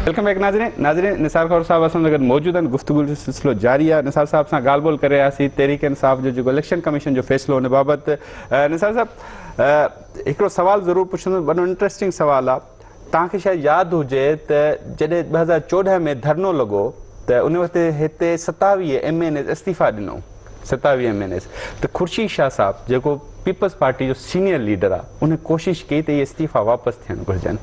Welcome back ناظرين ناظرين نثار خور صاحب اسان گڏ موجود آهن گفتگو جو سلسلو جاري آهي نثار صاحب سان ڳالهه ٻولهه ڪري رهياسي تحريڪ انصاف جو جيڪو اليڪشن ڪميشن جو فيصلو ان بابت نثار صاحب هڪڙو سوال ضرور پڇندو ڏاڍو انٽريسٽنگ سوال آهي توهان کي شايد ياد هجي ته جڏهن ٻه هزار چوڏهن ۾ ڌرڻو لڳو ته ان وقت هتي ستاويهه ايم اين ايز استعيفا ڏنو ستاويهه ايم اين ايز ته خورشيد شاهه صاحب جيڪو پيپلز پارٽي جو سينئر ليڊر آ ان ڪوشش ڪئي ته اهي استعيفا واپس ٿيڻ گهرجن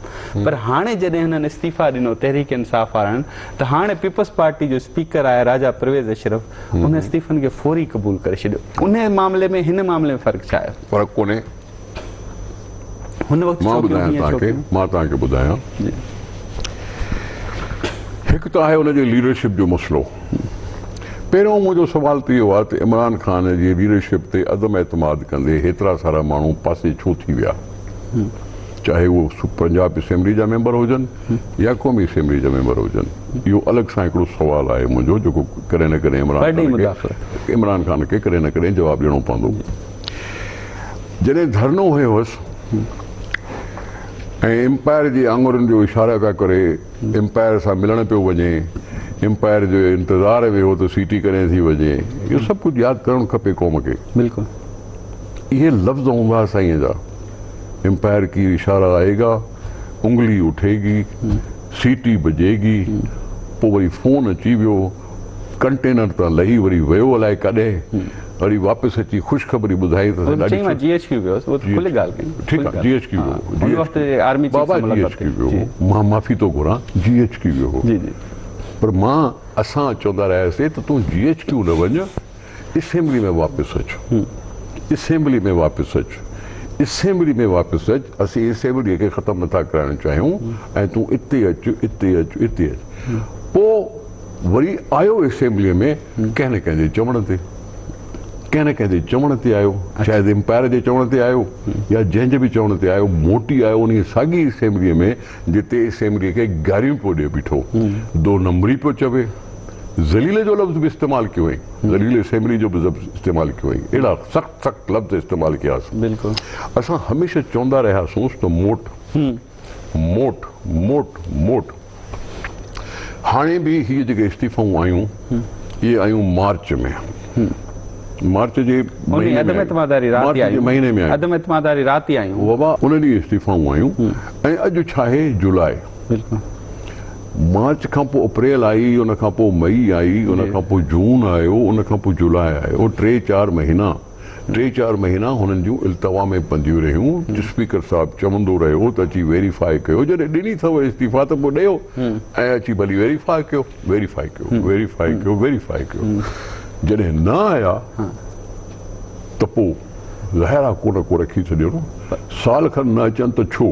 پر هاڻي جڏهن هنن استعيفا ڏنو تحريڪ انصاف وارن ته هاڻي پيپلز پارٽي جو اسپيڪر آهي راجا پرويز اشرف ان استعيفن کي فوري قبول ڪري ڇڏيو ان معاملي ۾ هن معاملي ۾ فرق ڇا آهي فرق ڪونهي هن وقت مان ٻڌايان توهان کي مان توهان کي ٻڌايان هڪ ته آهي ان جي ليڊرشپ جو مسئلو پهريون منهنجو سوال ته اهو آهي ته عمران خان جي ليڊرشپ تي عدم اعتماد ڪندي هيترا سارا ماڻهو پاسي ڇو ٿي ويا چاهي اهو پنجاب اسيمبلي جا ميمبر هجن يا قومي اسيمبلي جا ميمبر هجن اهو الڳ سان هڪڙو سوال آهي منهنجو جيڪو ڪڏهن نه ڪڏهن عمران خان کي عمران خان کي ڪڏهن نه ڪڏهن جواب ڏيڻو پوندو جڏهن ڌرڻو هنيو هوس ۽ امپائر جي آڱرين جو اشارو پيا ڪري امپائر سان ملڻ پيو وڃي امپائر جو انتظار ويهو ته سيٽي ڪڏهن ٿي وڄي اهو سڀ ڪجهه ياد ڪرڻ کپي قوم کي بلڪل اهي لفظ هوندا سائين جا امپائر ڪي اشارا آئي گا انگلي اٺي گي سيٽي بجي گي پوء وري فون اچي ويو ڪنٽينر تان لهي وري ويو الائي ڪاڏي وري واپس اچي خوشخبري ٻڌائي ته سائين ڏاڍي سٺي مان معافي ٿو گهران جي ايڇ ڪيو ويو هو پر مان اسان چوندا رهياسي ته تون جي ايڇ ڪيو نه وڃ اسيمبلي ۾ واپس اچ. اسيمبلي ۾ واپس اچ. اسيمبلي ۾ واپس اچ. اسين اسيمبليء کي ختم نٿا ڪرائڻ چاهيون ۽ تون اتي اچ، اتي اچ، اتي اچ. پوء وري آيو اسيمبليء ۾ ڪنهن نه ڪنهن جي چوڻ تي. ڪنهن نه ڪنهن جي چوڻ تي آيو. شايد امپائر جي چوڻ تي آيو يا جنهن جي به چوڻ تي آيو. موٽي آيو انهيء ساڳيء اسيمبليء ۾ جتي اسيمبليء کي گاريون پيو ڏئي بيٺو. دو نمبري پيو چوي. ذليل جو لفظ به استعمال ڪيو هئائين، ذليل اسيمبلي جو به لفظ استعمال ڪيو هئائين، اهڙا سخت سخت لفظ استعمال ڪياس. اسان هميشه چوندا رهياسونس ته موٽ، موٽ، موٽ، موٽ. هاڻي به هي جيڪي استعيفائون آيون، اهي آيون مارچ ۾. مارچ جي مهيني ۾ آيون. ان ڏينهن استعيفائون آيون ۽ اڄ ڇا آهي جولاء. مارچ کان پوء اپريل آئي، ان کان پوء مئي آئي، ان کان پوء جون آيو، ان کان پوء جولاء آيو، ٽي چار مهينا، ٽي چار مهينا هنن جون التوا ۾ پنديون رهيون، اسپيڪر صاحب چوندو رهيو ته اچي ويريفاء ڪيو، جڏهن ڏني اٿئو استعيفا ته پوء ڏيو ۽ اچي ڀلي ويريفاء ڪيو، ويريفاء ڪيو، ويريفاء ڪيو، ويريفاء ڪيو، جڏهن نه آيا ته پوء ظاهر آ ڪو نه ڪو رکي ڇڏيو نه، سال کن نه اچن ته ڇو؟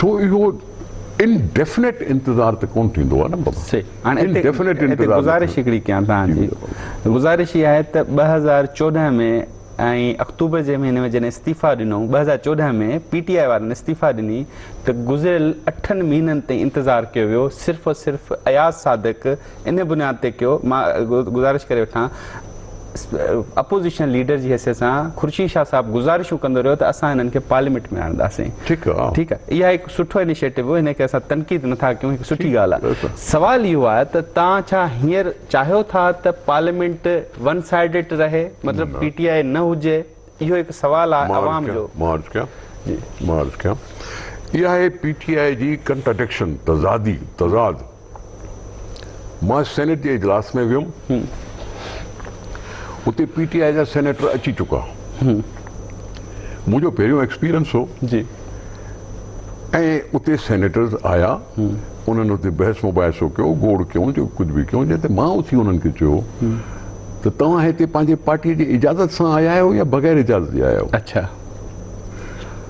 سو اهو ان ڊيفنيٽ انتظار ته ڪون ٿيندو آهي نه بابا سي هاڻي ان هتي ڊيفنيٽ هتي انتظار گذارش هڪڙي ڪيان تان جي گذارش هي آهي ته ٻه هزار چوڏهن ۾ ۽ اڪتوبر جي مهيني ۾ جڏهن استعيفا ڏنو ٻه هزار چوڏهن ۾ پي ٽي آء وارن استعيفا ڏني ته گذريل اٺن مهينن تائين انتظار ڪيو ويو صرف صرف اياز صادق ان بنياد تي ڪيو مان گذارش ڪري وٺان اپوزيشن ليڊر جي حيثيت سان خورشيد شاهه صاحب گذارشون ڪندو رهيو ته اسان هنن کي پارليامينٽ ۾ آڻنداسين ٺيڪ آهي ٺيڪ آهي اها هڪ سٺو انيشيٽو هو هن کي اسان تنقيد نٿا ڪيون هڪ سٺي ڳالهه آهي سوال اهو آهي ته تان ڇا هينئر چاهيو ٿا ته پارليامينٽ ون سائيڊٽ رهي مطلب پي ٽي آء نه هجي اهو هڪ سوال آ عوام جو. مان عرض ڪيان مان عرض ڪيان اها آهي پي ٽي آء جي ڪنٽرڊڪشن تضادي تضاد مان سينيٽ جي اجلاس ۾ ويم اتي پي ٽي آء جا سينيٽر اچي چڪا منهنجو پهريون ايڪسپيرينس هو جي ۽ اتي سينيٽرز آيا انهن اتي بحث مباحثو ڪيو گوڙ ڪيون جو ڪجهه به ڪيون جنهن تي مان اٿي انهن کي چيو ته توهان هتي پنهنجي پارٽيء جي اجازت سان آيا آهيو يا بغير اجازت جي آيا آهيو؟ اڇا.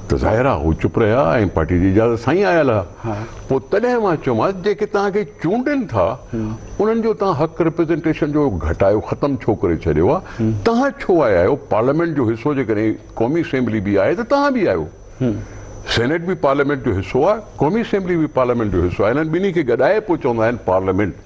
ته ظاهر آهي هو چپ رهيا ۽ پارٽيء جي اجازت سان ئي آيل ها. پوء تڏهن مان چيومانس، جيڪي توهان کي چونڊين ٿا، انهن جو توهان حق رپريزنٽيشن جو گهٽايو ختم ڇو ڪري ڇڏيو آهي؟ توهان ڇو آيا آهيو؟ پارليامينٽ جو حصو جيڪڏهن قومي اسيمبلي به آهي ته توهان به آهيو. سينيٽ به پارليامينٽ جو حصو آهي، قومي اسيمبلي به پارليامينٽ جو حصو آهي. انهن ٻنهي کي گڏائي پوء چوندا آهن پارليامينٽ.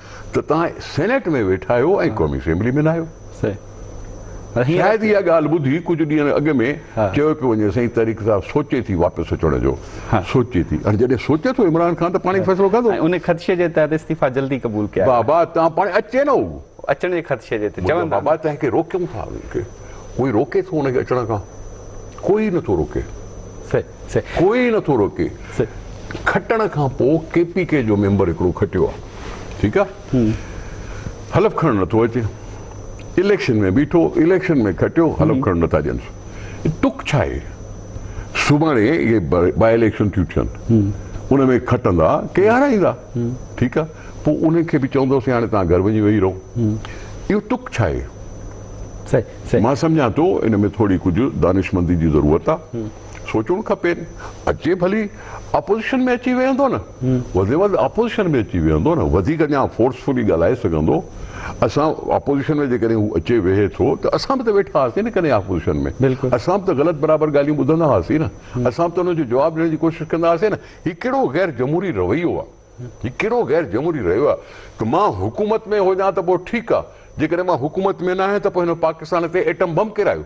ته توهان سينيٽ ۾ ويٺا آهيو ۽ قومي اسيمبلي ۾ ناهيو. شايد اها ڳالهه ٻڌي ڪجهه ڏينهن اڳ ۾ چيو پيو وڃي سائين طريق صاحب سوچي ٿي واپس اچڻ جو سوچي ٿي هاڻي جڏهن سوچي ٿو عمران خان ته پاڻ ئي فيصلو ڪندو. ۽ ان خدشي جي تحت استعيفا جلدي قبول ڪيا ويا. بابا توهان پاڻ اچي نه هو. اچڻ جي خدشي جي تي چون ٿا. بابا تنهن کي روڪيون ٿا. ڪوئي روڪي ٿو ان کي اچڻ کان. ڪوئي نه ٿو روڪي. ڪوئي نه ٿو روڪي کٽڻ کان پو ڪي پي ڪي جو ميمبر هڪڙو کٽيو آ ٺيڪ آ حلف کڻڻ نه ٿو اچي اليڪشن ۾ بيٺو اليڪشن ۾ کٽيو حلف کڻڻ نه ٿا ڏين تک ڇا آهي سڀاڻي اهي با اليڪشن ٿيون ٿين ان ۾ کٽندا ڪي هارائيندا ٺيڪ آ پو انهن کي به چوندوسي هاڻي توهان گهر وڃي ويهي رهو اهو تک ڇا آهي مان سمجهان ٿو ان ۾ ٿوري ڪجهه دانشمندي جي ضرورت آ سوچڻ کپين اچي ڀلي اپوزيشن ۾ اچي ويهندو نه وڌ ۾ وڌ اپوزيشن ۾ اچي ويهندو نه وڌيڪ اڃا فورسفلي ڳالهائي سگهندو اسان اپوزيشن ۾ جيڪڏهن هو اچي ويهي ٿو ته اسان به ته ويٺا هئاسين نه ڪڏهن اپوزيشن ۾ اسان به ته غلط برابر ڳالهيون ٻڌندا هئاسين نه اسان به ته ان جو جواب ڏيڻ جي ڪوشش ڪندا هئاسين نه هي ڪهڙو غير جمهوري رويو آهي هي ڪهڙو غير جمهوري رويو آهي ته مان حڪومت ۾ هجان ته پوء ٺيڪ آهي جيڪڏهن مان حڪومت ۾ ناهيان ته پوء هن پاڪستان تي ايٽم بم ڪيرايو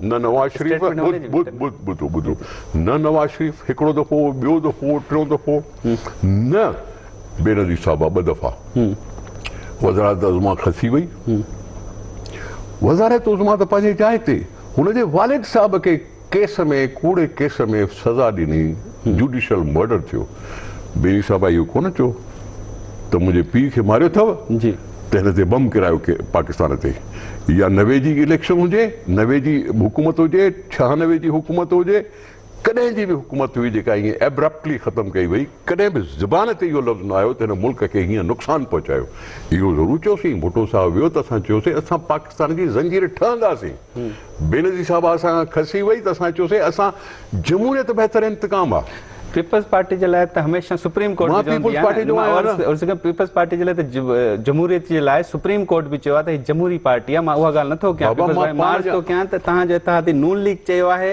نه نواز شريف ٻڌ ٻڌو ٻڌو نه نواز شريف هڪڙو دفعو ٻيو دفعو ٽيون دفعو نه بينظير صاحبه ٻه دفعا وزارت عظما کسي وئي وزارت عظما ته پنهنجي جاء تي هن جي والد صاحب کي ڪيس ۾ ڪوڙي ڪيس ۾ سزا ڏني جوڊيشل مرڊر ٿيو بينظير صاحبه اهو ڪونه چئو ته منهنجي پيء کي ماريو اٿو جي تنهن تي بم ڪرايو پاڪستان تي يا نوي جي اليڪشن هجي نوي جي حڪومت هجي ڇهانوي جي حڪومت هجي ڪڏهن جي به حڪومت هئي جيڪا ائين ايبرپٽلي ختم ڪئي وئي ڪڏهن به زبان تي اهو لفظ نه آيو ته هن ملڪ کي هيئن نقصان پهچايو اهو ضرور چيوسين ڀٽو صاحب ويو ته اسان چيوسين اسان اسان جي زنجير ٺهنداسين. بينظير صاحب اسان کان کسي وئي ته اسان چيوسين اسان جمهوريت بهتر انتقام آ. پيپلز پارٽي جي لاء ته هميشه سپريم ڪورٽ به چوندي آهي نه. مان پيپلز پارٽي جو آهيان نه. پيپلز پارٽي جي لاء ته جمهوريت جي لاء سپريم ڪورٽ به چيو آهي ته هي جمهوري پارٽي آ. مان اها ڳالهه نٿو ڪيان. پيپلز پارٽي مان عرض ٿو ڪيان ته توهان جو اتحادي نون ليگ چيو آهي.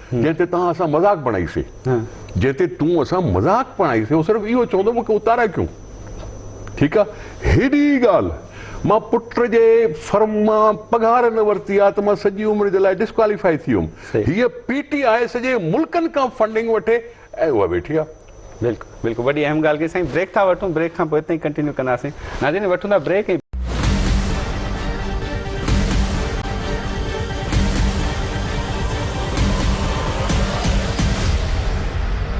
جنهن تي توهان اسان مذاق بڻائي سي جنهن تي تون اسان مذاق بڻائي سي هو صرف اهو چوندو مون کي اتارا ڪيون ٺيڪ آ هيڏي ڳالهه مان پٽ جي فرم مان پگهار نه ورتي آ ته مان سڄي عمر جي لاء ڊسڪواليفائي ٿي ويم هيء پي ٽي آء سڄي ملڪن کان فنڊنگ وٺي اهي اها ويٺي آ. بلڪل بلڪل وڏي اهم ڳالهه ڪئي سائين بريڪ ٿا وٺون بريڪ کان پوء اتي ئي ڪنٽينيو ڪنداسين ناظرين وٺون ٿا بريڪ ۽